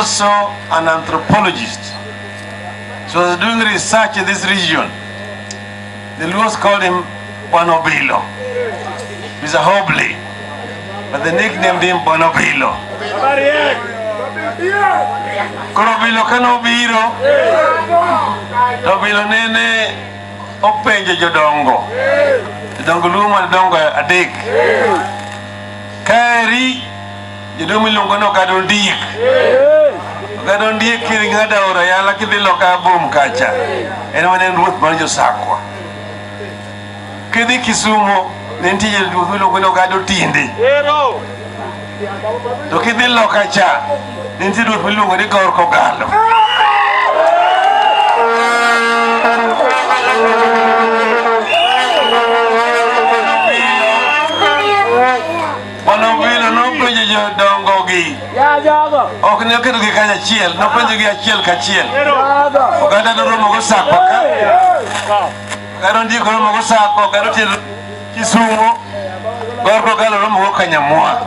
also an anthropologist. So I was doing research in this region. The Luos called him Bonobilo. He's a hobbly, but they nicknamed him Bonobilo. Koro bilo ka nobiro, to bilo nene openjo jodongo. Jodongo luo madongo adek. Kaeri Jodong miluongo ni ogada ondiek. Ogada ondiek kiri ng'ada ora yala kidhi loka bom kacha. En wane en ruoth mar josakwa. Kidhi Kisumo ne nitie jodong miluongo ni ogada otinde. To kidhi loka cha ne nitie ruoth miluongo ni Gor Kogalo. Mano vile nopenjo jodongogi. Ok ne oketogi kanyachiel, nopenjogi achiel kachiel. Oganda noromo gosako ka. Oganda ndiko romo gosako, oganda tiel Kisumo. Gor kogalo romo go Kanyamwa.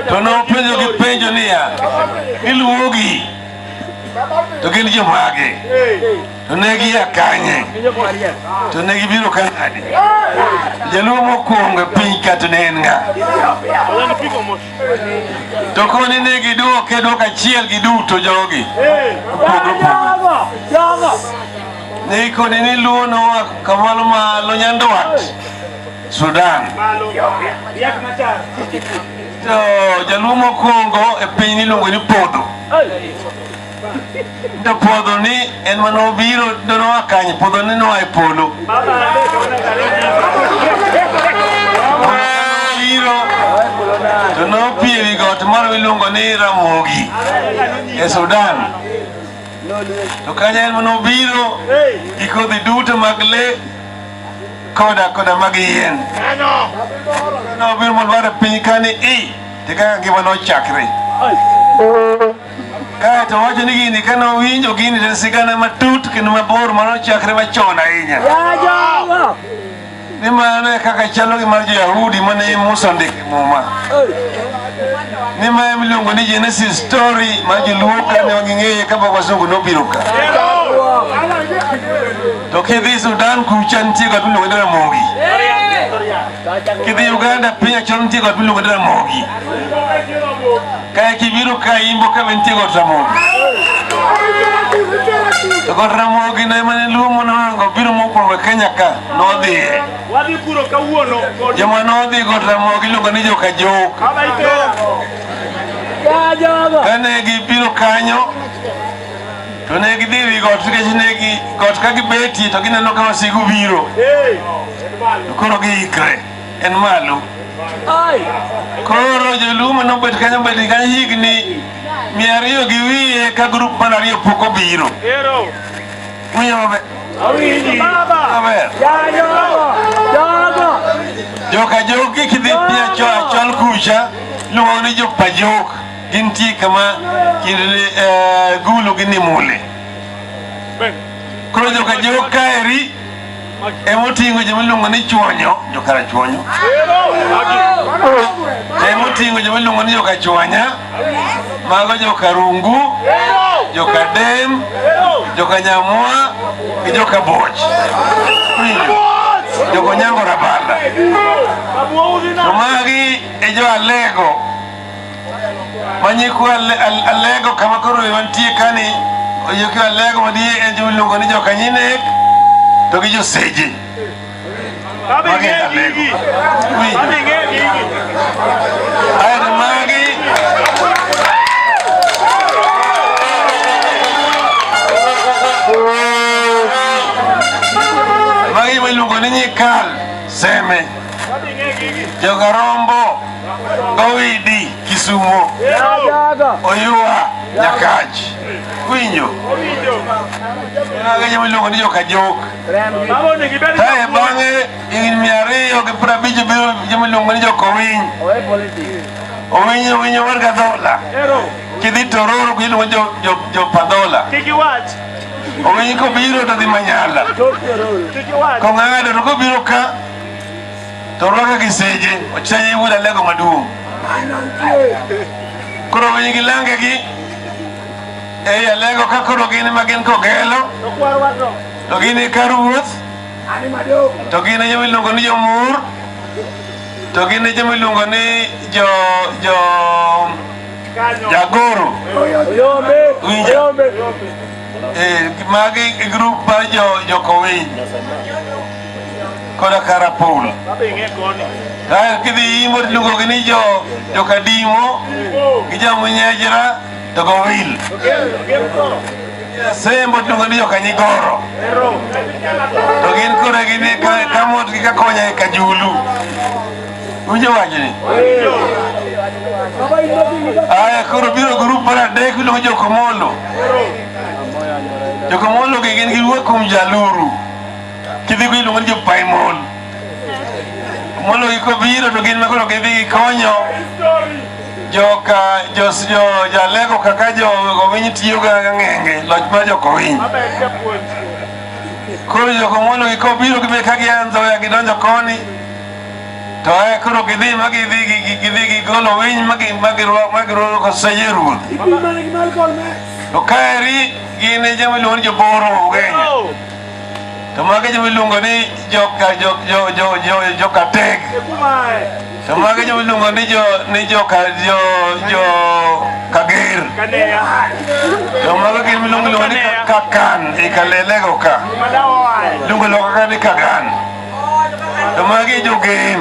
To nopenjogi penjo niya, iluwogi to gin jomage? To ne gia kanye? To ne gibiro ka nadi? Jaluo mokwongo e piny ka to ne en ng'a? To koni ne gidwoke dwoko achiel giduto jogi. Opogore opogore. Ne ikoni ni luo noa kamalo malo nyandwat Sudan. To jaluo mokwongo e piny niluongo ni Podho. to puodho ni en mana obiro donowa kanye puodho ni noa e polo biro to nopie wi got moro miluongo ni ramogi e sudan to kanya en mana obiro gi kodhi duto mag le koda koda mag yien nobiro mondo ware piny kani i te kaka ngima nochakre Kae to wacho ni gini kane owinjo gini to sigana matut kendo mabor mano chakre machon ahinya. Ni mano e kaka chalo gi mar jo-Yahudi mane Musa ondiko e Muma. Ni ma ema iluongo ni Genesis story ma joluo ka ne ging'eye ka pok wasungu nobiro ka. To kidhi Sudan kucha nitie got miluongo ni Ramogi. Kidhi Uganda piny achon nitie got miluongo ni Ramogi. Kae kibiro ka imbo ka bentie got Ramogi. To got Ramogi ne mane Luo monohango biro mokwongo e Kenya ka nodhiye. Wadhi kuro kawuono. Joma nodhi got Ramogi iluongo ni joka Jok. Kane gibiro kanyo to ne gidhi wi got nikech ne gi got ka gibetie to gineno ka wasigu biro. Koro giikre. en malo. Koro jolumo nobet kanyo bed kanyo higni mia ariyo gi wiye ka grup mar ariyo pok obiro. Winjo maber? Maber. Joka jogi kidhi pia cho achol kucha luwo ni jopa jok gintie kama kind eh, gulu gi nimule. Koro joka jok kaeri emoting'o joma iluongo ni chuonyo jokara chuonyo emoting'o joma iluongo ni joka chuanya mago joka rungu joka dem joka nyamwa gi joka boch joka onyango rabala to magi e jo alego manyikwa Alego kama koro wantie kani oyuki Alego madie en joma iluongo ni jokanyinek to gi joseje magi Alego aeto magi magi joma iluongo ni nyikal seme jogarombo Owidi Kisumo Oyua Nyakachi winjo agenye miluongo ni jokajok kae bang'e higni mia ariyo gi piero abich biro joma iluongo ni jokowiny owiny owiny owar gadhola kidhi tororo iluongo ni jopadhola owiny kobiro to dhi manyala kong'ado to kobiro ka to orwaka gi seje ochanye wuod alego maduong' koro winy gi lange gi ei alego ka koro gin ma gin kogelo to gin e kar wuoth to gin e joma iluongo ni jomur to gin e joma iluongo ni jo jo jagoro winjo eh, magi e grup mar jo jokowiny koda Karapul. Kae kidhi yimo tiluongo gi ni jo Jokadimo gi Jamunyejra to Gowil. Sembo tiluongo ni Jokanyigoro. To gin kore gin e ka- Kamot gi Kakonya e Kajulu. Winjo wachni? Aya koro biro grup mar adek miluongo Jokomolo. Jokomolo gi gin giwuok kuom Jaluru. Kidhi go iluongo ni jopaimon. Mondo giko biro to gin makoro gidhi gikonyo joka jos jo jalego kaka jo gowiny tiyo ga ng'enge loch mar jokowiny. Koro joko mondo giko biro gibe ka gianzo ya gidonjo koni to e koro gidhi ma gidhi gi- gi- gidhi gigolo winy ma gi- ma girwa- ma girwako koseje ruoth. To kaeri gin e joma iluongo ni joboro Ugenya. to mage joma iluongo ni joka jo jo jo jo joka teg to mage joma iluongo ni jo ni joka jo jo kager to mage gin miluongo iluongo ni kakan ikalelego ka luongo loka ka ni kagan To magi jogen.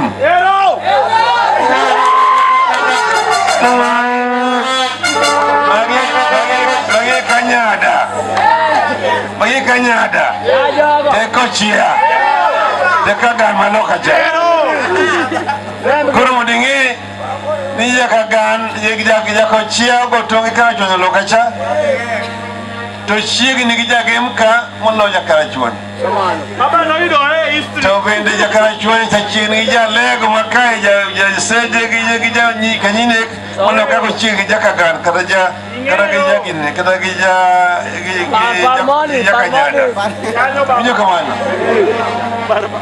Magi magi kanyada. Magi kanyada. Teko chia. Teko dama loka cha. Koro mondo ing'e ni nyaka gan jako chia ogotongi kar chonyo loka cha to chiegni gi jagemka moloyo kar chon. tobende jakarachuonye chachien gi jalego makae jaseje gi janyikanyinek mondo kako chieng gi jakagan kata ja kata gi jagine kata gi ja jakanyaga winjo kamano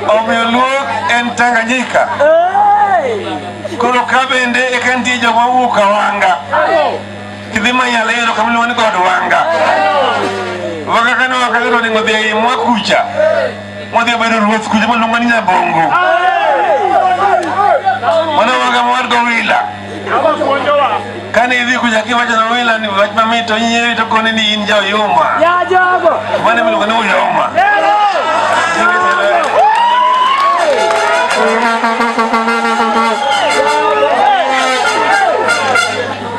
omiyo luok en tanganyika koro ka bende eka nitie joma wuok awanga kidhimanyala yero kamloni kod wanga wanga kane wakayero ni ngodhi ei mwa kucha mwadhi bedo ruoth kucha maluongo ni nyabongo mana wanga mawar go wila kane idhi kucha kiwacho na wila ni wach mamit to inyeri to koni ni in jaoyuma mane miluongo ni uyoma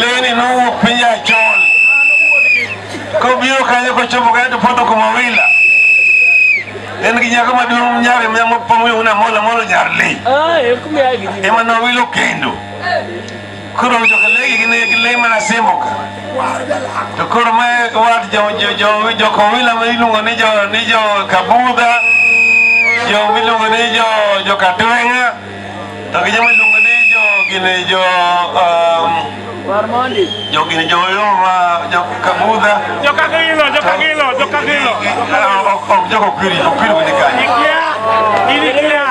Leni nowuok piny Achol kobiro kanyo kochopo kanyo to poto kuma wila en gi nyako maduong' nyare mapong'ona mola molo nyar le ah, ema nowilo kendo koro jokalegi gin gi le mana simo ka to koro ma wat jokowila ma iluongo ni jo kabudha jo miluongo ni jo katwenga To gi joma iluongo ni jo gini jo um, jo gini jo Yoma, jo Kabudha. Jo Kagilo, jo Kagilo, jo Kagilo. Ah, ok- ok jo Kopiri, Kopiri bende kanyo. Ikia, inikia.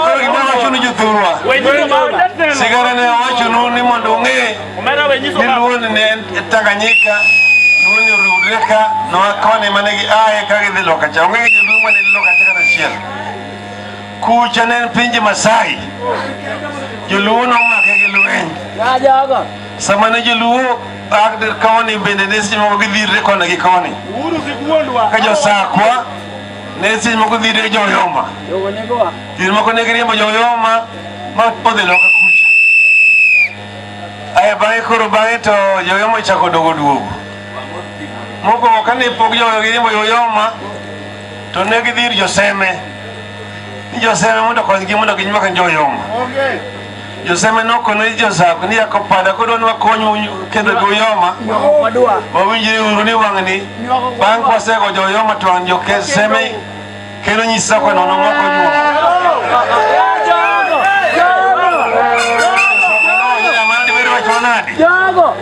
Koro gima wachonu jothurwa. Wenyiso baba. Sigara ne awachonu ni mondo ung'e Omera wenyiso ni baba. Luo ne en Tanganyika, Luo ne oriwre ka noa koni mane gi aye ka gidhi loka cha. Onge gi joluo mane loka cha kata achiel. Kucha ne en pinje Masai. Joluo nomake gi lweny. Ya jogo. Sama ne joluo bag dir koni bende ne seche moko gidhirre koni gi koni. Uru sigwondwa. Ka josakwa ne seche moko dhirre joyoma. Jogo ne gowa. Seche moko ne giriembo joyoma ma podhi loka kucha. Aya bang'e koro bang'e to joyoma ochako dogo duogo. Mokwongo kane pok joyoma giriembo joyoma to ne gidhi ir Joseme ni Joseme mondo okonygi mondo ginywak joyoma. Joseme nokono ni Josab ni yako pada kodwa ni wakonyu kendo joyoma wawinjre uru ni wang'ni bang' kwasego joyoma to an jokeseme kendo nyisa kwa nono moko nyuomo. Jogo.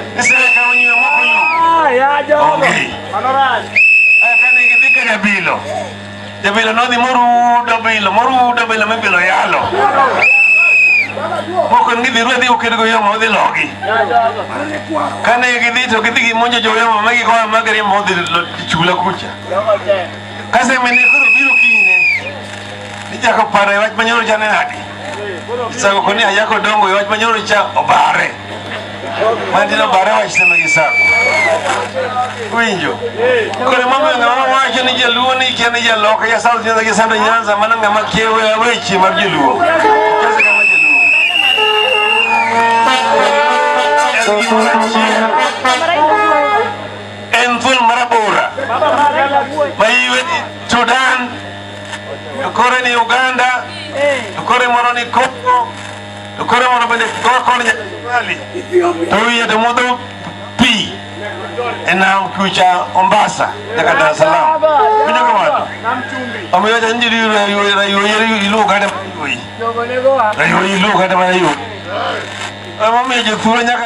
Jabilo. Jabilo nodhi morudo bilo, morudo bilo mibilo yalo. Moko gidhi ruwe dhi oked go yamo odhi logi. Kane gidhi to gidhi gimonjo jo yamo ma gikoa ma giriembo odhi chula kucha. Kase mene koro biro kinyne. Nijako paro e wach manyoro chane nadi. Isako koni ayako dongo yot manyoro cha obare. Mandi no bare wach teme gi sako. Winjo. Kore mama nga mama wacho ni jaluo ni kia ni jaloka ya South Nyanza gi Central Nyanza mana nga makiewe awechi mar jaluo. Kasa kama jaluo. En thuol marabora. Mayiwe Sudan Lokore ni Uganda, lokore moro ni Congo, lokore moro bende koko ni Nyali. To wiye to modho pi e nam kucha Mombasa nyaka Dar es Salaam. Winjo ka wado. Omiyo cha nji riu riu riu riu riu ilu kata riu riu ilu kata riu. Omiyo jo thuolo nyaka